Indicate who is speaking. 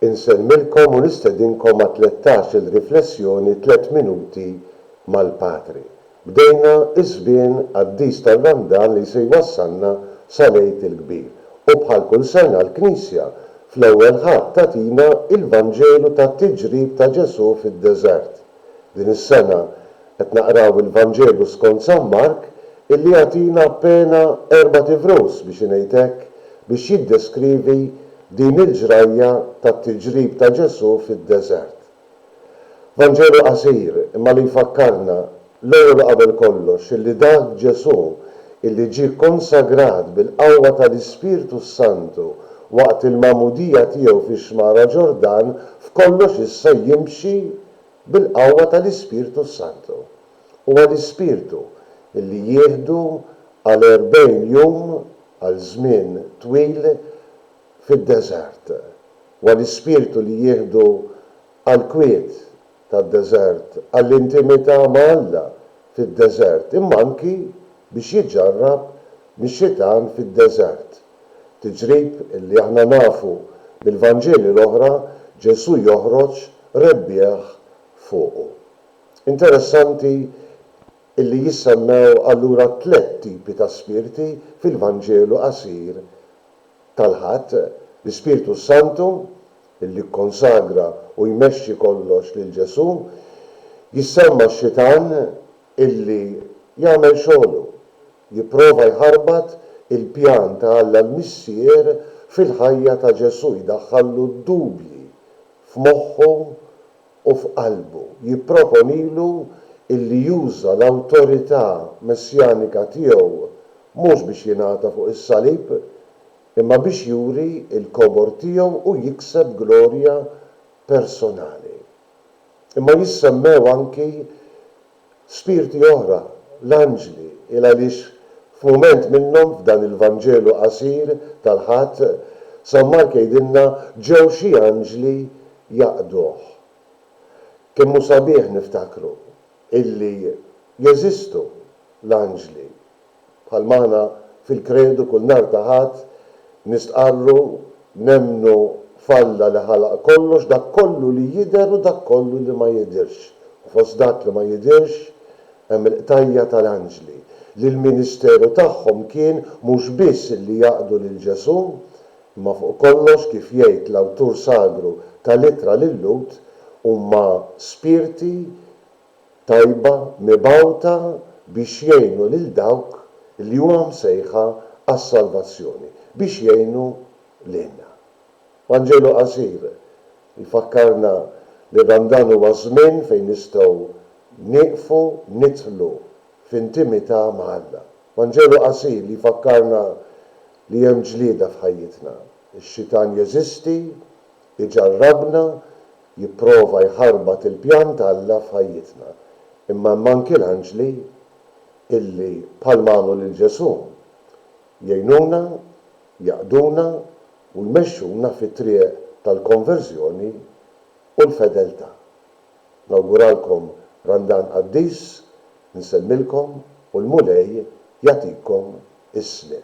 Speaker 1: Insemmilkom u nistedinkom għat-tlettax-il riflessjoni Tliet Minuti mal-Patri. Bdejna ż-żmien qaddis tar-Ramdan li se jwassalna sal-Għid il-Kbir. U bħal kull sena l-Knisja fl-ewwel Ħadd tagħtina l-Vanġelu tat-tiġrib ta' Ġesù fid-deżert. Din is-sena qed naqraw il-Vanġelu skont San Mark illi jagħtina appena erbat ivrus biex ingħid hekk biex jiddeskrivi din il-ġrajja tat-tiġrib ta' Ġesù fid-deżert. Vanġelu qasir imma li jfakkarna, l-ewwel u qabel kollox, illi dak Ġesù illi ġie konsagrat bil-qawwa tal-Ispirtu s-Santu Waqt il-magħmudija tiegħu fix-Xmara Ġordan, f'kollox issa jimxi bil-qawwa tal-Ispirtu s-Santu. Huwa l-Ispirtu li jieħdu għal erbgħin jum, għal żmien twil, fid-deżert. Huwa l-Ispirtu li jieħdu għall-kwiet tad-deżert, għall-intimità ma' Alla fid-deżert, imma anki biex jiġġarrab mix-xitan fid-deżert. Tiġrib li aħna nafu mill-Vanġeli l-oħra Ġesù joħroġ rebbieħ fuqu. Interessanti li jissemmew allura tliet tipi ta' spirti fil-Vanġelu qasir tal-Ħadd, l-Ispirtu s-Santu, li kkonsagra u jmexxi kollox lil Ġesù, jissemma x-xitan, illi jagħmel xogħlu, jipprova jħarbat il-pjan ta' Alla l-Missier fil-ħajja ta' Ġesù, jdaħħallu d-dubji f'moħħu u f'qalbu, jipproponilu illi juża l-awtorità messjanika tiegħu mhux biex jingħata fuq is-salib, imma biex juri l-kobor tiegħu u jikseb glorja personali. Imma jissemmew anki spirti oħra, l-anġli, il għaliex f'mument minnhom f'dan il-Vanġelu qasir tal-Ħadd, San Mark jgħidilna ġew xi anġli jaqduh. Kemm hu sabiħ niftakru illi jeżistu l-anġli Bħalma aħna fil-Kredu kull nhar ta' Ħadd nistqarru, nemmnu f'Alla li ħalaq kollox, dak kollu li jidher u dak kollu li ma jidhirx. U fost dak li ma jidhirx hemm il-qtajja' tal-anġli, li l-ministeru tagħhom kien mhux biss li jaqdu lil Ġesù, imma fuq kollox, kif jgħid l-awtur sagru tal-Ittra lil-Lhud, huma spirti tajba mibgħuta biex jgħinu lil dawk li huma msejħa għas-salvazzjoni, biex jgħinu lilna. Vanġelu qasir jfakkarna li dan dan huwa żmien fejn nistgħu nieqfu nidħlu f'intimità ma' Alla. Vanġelu qasir li jfakkarna li hemm ġlieda f'ħajjitna. Ix-xitan jeżisti, iġarrabna, jipprova jħarbat il-pjan ta' Alla f'ħajjitna. Imma hemm anki l-anġli illi, bħalma għamlu lil Ġesù, jgħinuna, jaqduna u jmexxuna fit-triq tal-konverżjoni u l-fedeltà. Nawguralkom Randan qaddis, insellmilkom u l-Mulej jagħtikom is-sliem.